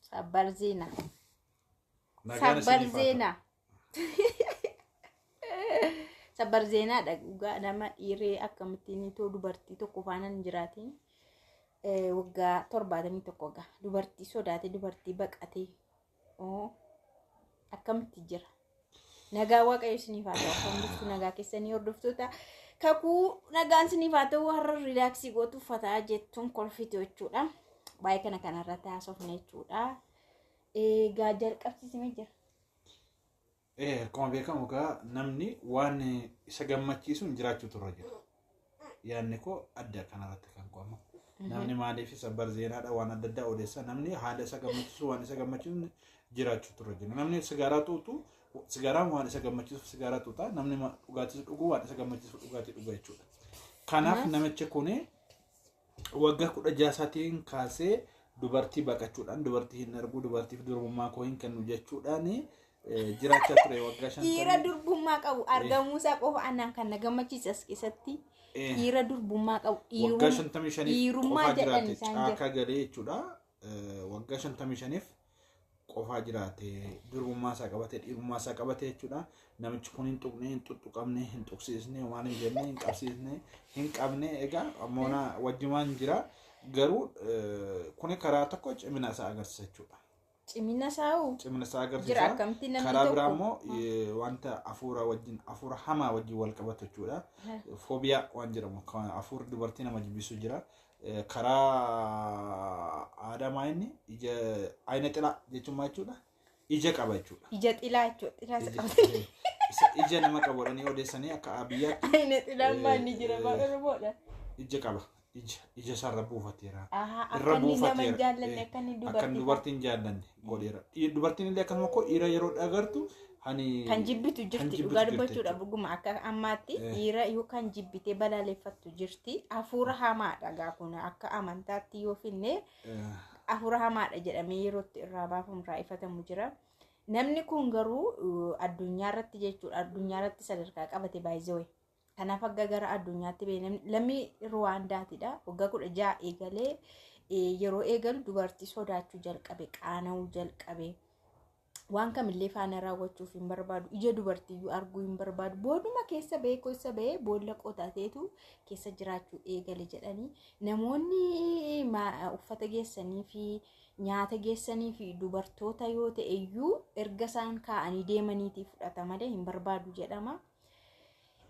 Sabbar ziina. Nagaan Sabbar isiniif haa ta'u. ziina. Sabbar zeenaadha dhugaa nama dhiiree akkamittiin itoo dubartii tokko faana hin jiraatiin eh, waggaa torbaatamii tokko gaa dubartii sodaate dubartii baqatee oo akkamitti jira Nagaa waaqayyo isiniif haa ta'u. Kan bultu nagaa keessanii hordoftoota kakuu nagaan isiniif haa ta'u har'a riilaaksii gootu uffataa jettuun kolfitu jechuudha. Baay'ee kana kanarratti haasofne jechuudha. Egaa jalqabsiisime jira. Eh, akkuma beekamu egaa namni waan isa gammachiisuun jiraachuu turre jira. yaadni koo adda kanarratti kan koo amma namni maaliif isa barzeenaadha waan adda addaa odeessa namni haala isa gammachiisu waan isa gammachiisu jiraachuu turre jenna namni sigaaraa xuuxu sigaaraan waan isa gammachiisu sigaaraa xuuxa namni ma- dhugaatii dhugu waan isa gammachiisu dhugaatii dhuga jechuudha kanaaf namichi kuni waggaa kudha jaha isaatiin kaasee dubartii baqachuudhaan dubartii hin arguu dubartiif durbummaa koo hin kennu jechuudhaan eh, jiraachaa ture waggaa shan Dhiira durbummaa qabu argamuusaa qofa anaan kan na gammachiise as keessatti Eh. dhiira durbummaa qabu waggaa dhiirummaa shantamii shaniif dhiirummaa qofaa jedhan jiraate isaan jira. caakaa galee jechuudha Eh, waggaa shantamii shaniif qofaa jiraate durbummaa isaa qabate dhiirummaa isaa qabate jechuudha. Namichi kun hin tuqne hin tuttuqamne hin tuqsiisne waan hin jenne hin qabsiisne hin qabne egaa moona wajjumaan jira garuu eh, kuni karaa tokko cimina isaa agarsiisa jechuudha. Cimina saa'u Cimina isaa jira agarsiisa. akkamti namni Karaa biraa tokko. immoo eh, wanta hafuura wajjin hafuura hamaa wajjin wal qabatu jechuudha. Foobiyaa waan jedhamu kan hafuurri dubartii nama jibbisu jira. Eh, karaa aadaa maa inni ija ayina xilaa jechuun maa jechuudha ija qaba jechuudha Ija xilaa jechuudha. Xilaa isa Ija- qabatee. eh, isa ija nama qabatanii odeessanii akka biyyaatti Ayina xilaan maa inni jira maa Eh, Oromoodha. ija qaba ija ija isaarra buufateera Ahaa, Irra akka inni nama hin buufateera. jaallanne Eh, akka inni akka dubartii dubartiin jaallanne godheera. Dhiir- Dubartiin illee akkasuma koo dhiira yeroo dhagartu hani Kan jibbitu kan jirti jibbitu dhugaa jirti dubbachuudha jechuudha. dhuguma akka ammaatti Eh. dhiira yoo kan jibbitee balaaleffattu jirti hafuura hamaadha gaa kun akka amantaatti yoo finne Eh, hafuura hamaadha jedhamee yerootti irraa baafamu irraa ifatamu jira. Namni kun garuu uh, addunyaa irratti jechuudha addunyaa irratti sadarkaa qabate baay'ee Kanaaf akka gara addunyaatti beekamne lammii Ruwaandaatidha. Waggaa kudha ja'a eegalee yeroo eegalu dubartii sodaachuu jalqabe, qaana'uu jalqabe. Waan kamillee faana raawwachuuf hin barbaadu. Ija dubartiyyuu arguu hin barbaadu. Booduma keessa ba'ee keessa ba'ee boolla qotateetu keessa jiraachuu eegale jedhanii namoonni uffata geessanii fi nyaata geessanii fi dubartoota yoo ta'e iyyuu erga isaan kaa'anii deemaniitii fudhata malee hin barbaadu jedhama.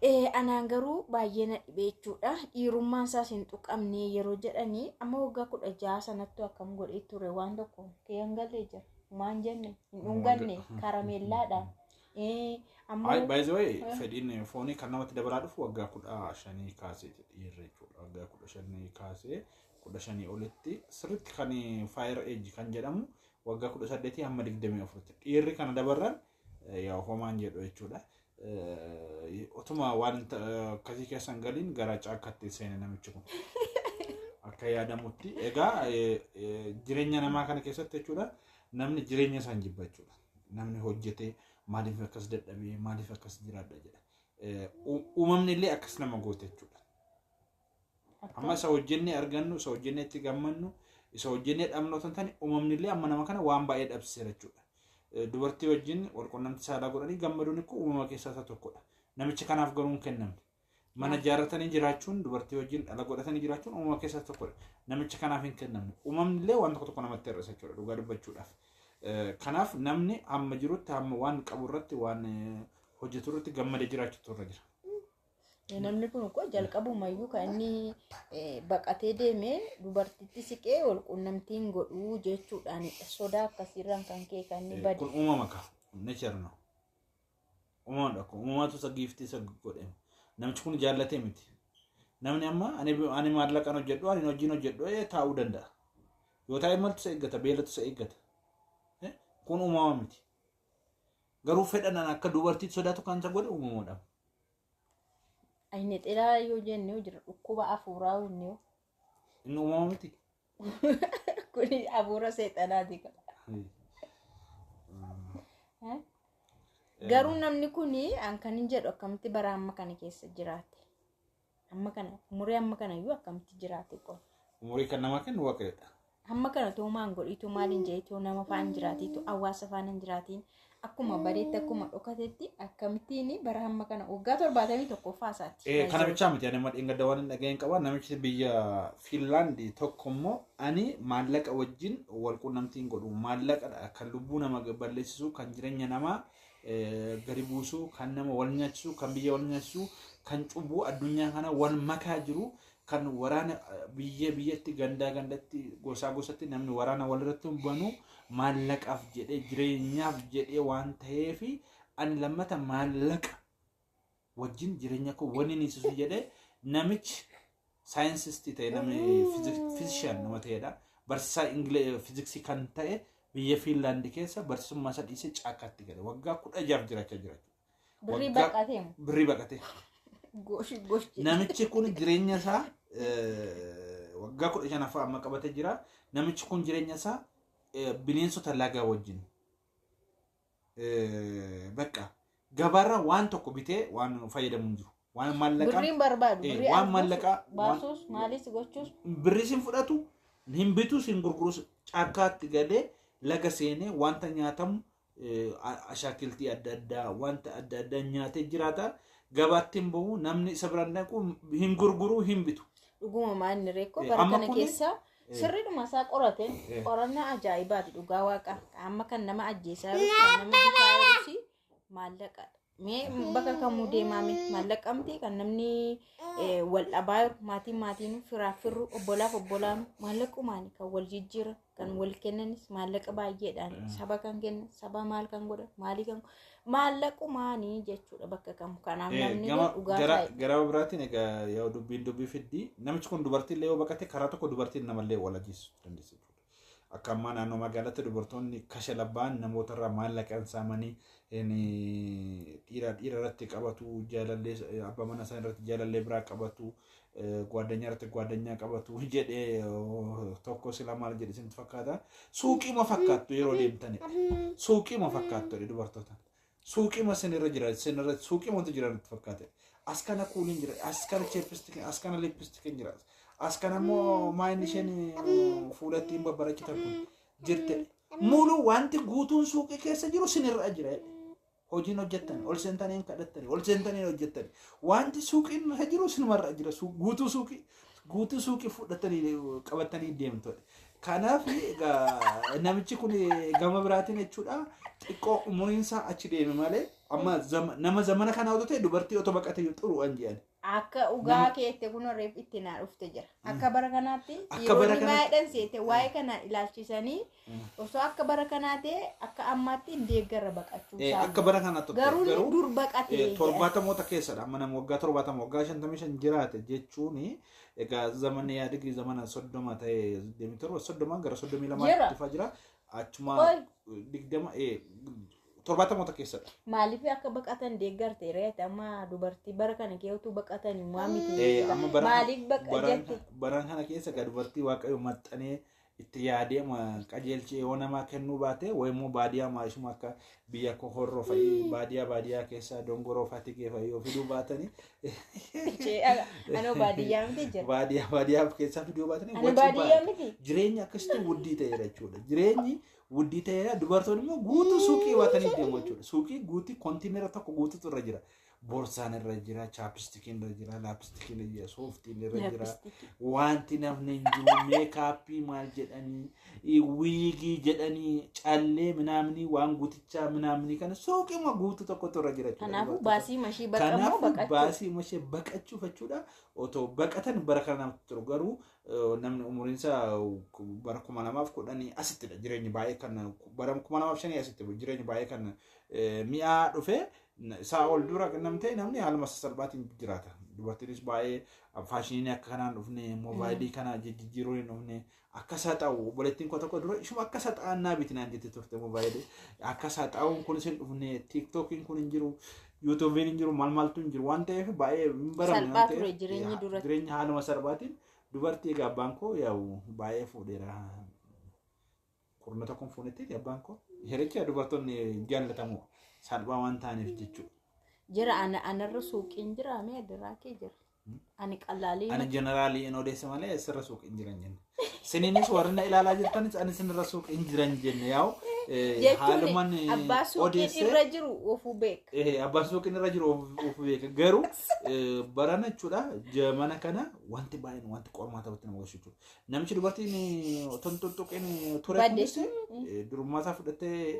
Eh, anaan garuu baay'ee na dhibee jechuudha dhiirummaan isaas hin tuqamne yeroo jedhanii amma waggaa kudha jaha sanattu akkam godhee ture waan tokko kee hin galle jira maan jenne hin dhunganne karameellaadha Eh, amma Ay, by the way, fedhiin foonii kan namatti dabalaa dhufu waggaa kudha shanii kaasee dhiirri jechuudha. Waggaa kudha shanii kaasee kudha shanii olitti sirriitti kan fire age kan jedhamu waggaa kudha saddeetii hamma digdamii afuritti. Dhiirri kana dabarran yaa homaan jedhu jechuudha. Otuma waan akkasii keessan galiin gara caakkatti seene namichi kun. Akka yaadamutti egaa jireenya namaa kana keessatti jechuudha namni jireenya isaan jibba jechuudha. Namni hojjetee maaliif akkas dadhabee maaliif akkas jiraadha jedha. Uumamni illee akkas nama goote jechuudha. Amma isa hojjennee argannu, isa hojjennee itti gammannu, isa hojjennee dhabnu otoo hin taane uumamni illee amma nama kana waan baay'ee dhabsiseera jechuudha. Dubartii wajjin walqunnamtii saalaa godhanii gammaduun kun uumama keessaa isa tokkodha. Namicha kanaaf garuu hin kennamne. Mana ijaarratanii jiraachuun dubartii wajjin dhala godhatanii jiraachuun uumama keessaa isa tokkodha. Namicha kanaaf hin kennamne. Uumamni illee waan tokko tokko namatti hir'isa jechuudha dhugaa dubbachuudhaaf. Kanaaf namni hamma jirutti hamma waan qabu irratti waan hojjetu irratti gammadee jiraachuutu irra jira. Namni kun koo jalqabumayyuu kan inni eh, baqatee deeme dubartitti siqee wal quunnamtiin godhuu jechuudhaan sodaa akkasiirraan kan ka'e kan inni bade. kun uumama ka nature no uumamadha kun uumamatu isa giiftii isa godhe namichi kun jaallatee miti namni amma ani ani maallaqan hojjedhu ani hojiin hojjedhu ee taa'uu danda'a yoo taa'e maltu isa eeggata beelatu isa eeggata Eh, kun uumama miti Garuu fedhan an akka dubartiitti sodaatu kan isa godhe uumamoodha. Inni xilaa yoo jenne jira dhukkuba afuuraa inni yoo. Inni uumama miti. Kuni afuura seexanaati. Garuu namni kuni an kan hin jedhu akkamitti bara amma kana keessa jiraate. Amma kana umurii amma kana iyyuu akkamitti jiraate qol. Umurii kan namaa kennu waaqayyoodha. Amma kana too maan godhiitu maaliin jedhiitu nama faan jiraatiitu hawaasa faan hin jiraatiin akkuma bareetti akkuma dhokatetti akkamittiin bara amma kana waggaa torbaatamii tokko faasaatti. Eh, Kana bichaa miti ani amma dheengadda waan hin dhaga'in qaba namichi biyya Fiinlaandi tokko immoo ani maallaqa wajjin wal quunnamtii hin godhu maallaqadha kan lubbuu nama balleessisu kan jireenya namaa gadi buusu kan nama wal nyaachisu kan biyya wal nyaachisu kan cubbuu addunyaa kana wal makaa jiru kan waraana biyya biyyatti gandaa gandatti gosaa gosatti namni waraana walirratti banu maallaqaaf jedhee jireenyaaf jedhee waan ta'eef ani lammata maallaqa wajjin jireenya koo wanni inni ibsisu jedhee namichi saayinsistii ta'e namni fiizishaan nama ta'edha. Barsiisaa Ingile- fiiziksii kan ta'e biyya Fiinlaandi keessa barsiisummaa isaa dhiisee caakkaatti gale. Waggaa kudha jaaf jiraachaa jira. Birrii Waggaa- baqatee moo? Birrii baqatee. Goshi goshi. Namichi kun jireenya isaa eh, waggaa kudha shanaffaa amma qabatee jira. Namichi kun jireenya isaa eh, bineensota lagaa wajjin eh, bakka gabaarra waan tokko bitee waan fayyadamu hin jiru. Waan maallaqaan Birriin barbaadu. Eh, Birrii waan arguuf, maallaqaa- baasuus waan- maalis gochuus. birris hin fudhatu hin bitus hin gurgurus caakkaatti galee laga seenee wanta nyaatamu eh, a- ashaakiltii adda addaa wanta adda addaa nyaatee jiraata gabaatti hin bahu namni isa biraan dhaqu hin gurguru hin bitu Dhuguma maanni reekkoo Eh, bara amma kana kuni- keessa Sirriidhuma isaa qorate qorannaa ajaa'ibaati dhugaa waaqa amma kan nama ajjeesaa jiru kan nama bitaa jirusi maallaqa mee bakka kamuu deemaame maallaqa miti kan namni eh, wal dhabaa jiru maatiin maatiin firaaf firru obbolaaf obbolaan maallaqumaani kan wal jijjiiran kan wal kennanis maallaqa baay'eedhaan saba kan kenna saba maal kan godha maalii kan godha maallaqumaani jechuudha bakka kam kanaaf Eh, namni gama dhugaa gara isaa gara biraatiin egaa yoo dubbiin dubbii fiddi namichi kun dubartii illee yoo baqate karaa tokko dubartiin namallee wal ajjeessu dandeessu jechuudha. Akka ammaa naannoo magaalatti dubartoonni kasha labbaan namoota irraa maallaqaan saamanii in, dhiira dhiira irratti qabatu jaalallee abbaa mana isaa irratti jaalallee biraa qabatu Gwaaddanyaa irratti gwaaddanyaa qabatu jedhee tokko sila maal jedhe isintu fakkaata. Suuqiima fakkaattu yeroo deemtani. Suuqiima fakkaattu jedhe dubartoota. Suuqiima sinirra jira sinirra suuqiimatu jira nutti fakkaate. As kana kuuliin jira as kana cheepistikin as kana lippistikin jira. As kana immoo maayinni isheen fuula ittiin babbarachitan kun jirte. Mulu wanti guutuun suuqii keessa jiru sinirra jira jedhe. Hojiin hojjettani, ol seentanii hin kadhattani, ol seentanii hin hojjettani. Wanti suuqiin irra jiru sinumarra jira. Suu- Guutuu suuqii guutuu suuqii fudhattanii qabattanii deemtu. Kanaaf egaa namichi kun gama biraatiin jechuudha xiqqoo umuriin isaa achi deeme malee amma zama- nama zamana kana otoo ta'e dubartii otoo baqate xuru waan jedhan. Akka Nama- dhugaa keette kun reef itti naa dhufte jira. Akka bara kanaatti Akka bara dhiironni kanaatti- baay'eedhaan seete waa'ee kana ilaalchisanii osoo akka bara kanaa ta'e akka ammaatti hin deeggarra baqachuu Eh, isaanii. akka bara kana tokko Garuu inni dur baqate. eh, torbaatamoota keessadha amma nama waggaa torbaatama waggaa shantamii shan jiraate jechuun egaa zamana yaadigii zamana soddoma ta'e deemii torba soddomaan gara soddomii Jira. lamaatti dhufaa jira achuma Oi. digdama eh, torbaatamoota keessadha. Maaliif akka baqatan deeggarte reeti amma dubartii bara kana keewwatu baqatan maa miti. Eh, amma bara- Maaliif baqa bara- jette? bara kana keessa egaa dubartii waaqayyo maxxanee itti yaadee ma qajeelchee yoo namaa kennuu baate wayi immoo baadiyaa maayisuma akka biyya koo horroo fa'i baadiyaa baadiyaa keessa dongoroo fatigee fa'i yoo fiduu baatanii Ishee ala- Anoo baadiyyaa miti jira. baadiyaa baadiyaa keessaa fiduu baatanii Ani wayi baadiyyaa cubbaadha. miti. jireenya akkasitti wuddii ta'eera jechuudha. Jireenyi Wuddii ta'eera dubartoonni immoo guutuu suuqii baatanii deemu jechuudha. Suuqii guutii kontiinera tokko guutuutu irra jira. Boorsaan irra jira, chaapistikiin irra jira, laapistikiin irra jira, sooftiin irra jira. Wanti namni hin jiru meekaappii maal jedhanii, i- wiigii jedhanii, callee minaamnii waan guutichaa minaamnii kana suuqiima guutuu tokkotu irra jira. jechuudha. Kanaafuu Dubartoota- baasii mashii baqammoo Kanaafuu baqachuuf. baasii mashee baqachuuf jechuudha. Otoo baqatan bara kana namatti turu garuu namni umuriinsa bara kuma lamaaf kudhanii asittidha jireenyi baay'ee kan bara kuma lamaaf shanii asitti jireenyi baay'ee kan mi'aa dhufee isaa ol dura namtee namni haaluma sasalphaatiin jiraata. Dubartiinis baay'ee faashiniin akka kanaan dhufne moobaayilii kana jijjiiruu hin dhufne akka isaa ta'u obboleettiin koo tokko dura ishuma akka isaa ta'an naa bitinaan jettee turte moobaayilii akka isaa ta'uun kunis hin dhufne tiiktookiin kun hin jiru yuutuubiin hin jiru mal maltu hin jiru waan ta'eef baay'ee hin baramne Salphaa waan ta'eef, ture jireenyi yaa, duratti. jireenya haaluma salphaatiin dubartii egaa abbaan koo yaa'u baay'ee fuudheera kurna tokkoon fuunetti abbaan koo hiricha dubartoonni jaallatamu salphaa waan ta'aniif jechuudha. Jira ana anarra suuqiin jira mee adiraa kee jira. Ani qalaalii Ani jeneraalii hin odeessa malee eessarra suuq hin jiran jenne. Siniinis warri na ilaalaa jirtanis ani sinirra suuq hin jiran jenne yaa'u. jechuun abbaa suuqiin irra jiru ofuu beeka. Eh, abbaan suuqiin irra jiru of- of beeka garuu eh, barana jechuudha jamana kana wanti baay'een wanti qormaata irratti nama geessu jechuudha. Namichi dubartiin eh, otoo hin tuttuqin eh, ture Badde. kunis eh, durummaa isaa fudhattee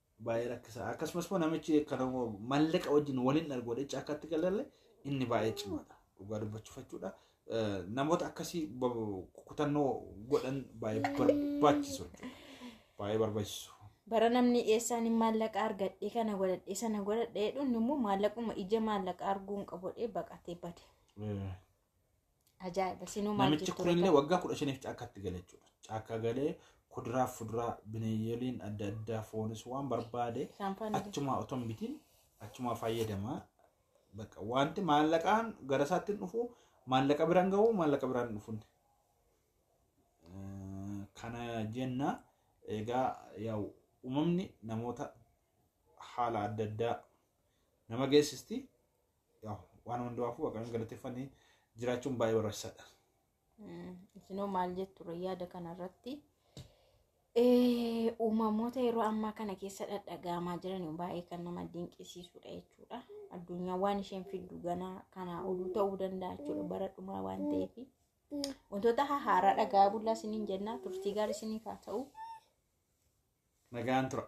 baay'ee rakkisaa akkasumas immoo namichi kan mallaqa wajjin waliin argu walitti akkatti galalle inni baay'ee cimaadha dhugaa dubbachuuf jechuudha. Eh, Namoota akkasii ba- kutannoo godhan baay'ee barbaachisu jechuudha. baay'ee barbaachisu. bara namni eessaan hin maallaqa argadhe kana godhadhe sana godhadhe jedhuun immoo maallaquma ija maallaqa arguun qabodhe baqatee bade Eh, Ajaa'iba sinuu maal Namichi jettu kunillee beekama? waggaa kudha shaniif caakkatti gale jechuudha. Caakkaa galee kuduraa fi fuduraa bineeyyoliin adda addaa foonis waan barbaade Shaampaan illee. achumaa otoo hin bitin achumaa fayyadamaa. Bakka wanti maallaqaan gara isaatti hin dhufu maallaqa biraan gahu maallaqa biraan hin dhufun. Eh, Kana jenna egaa yaa'u uumamni namoota haala adda addaa nama geessisti. Waan hundumaafuu Waaqayyoon galateeffannee jiraachuun baay'ee barbaachisaadha. Isinoo maal jettu yaada kanarratti? Uumamoota yeroo ammaa kana keessa dhadhagaamaa jiran baay'ee kan nama dinqisiisudha jechuudha. Addunyaa waan isheen fiddu ganaa kanaa oluu ta'uu danda'a jechuudha bara dhumaa waan ta'eef. Wantoota haaraa dhagaa bullaa isiniin jennaa turtii gaarii isiniif haa ta'u. Nagaan tura.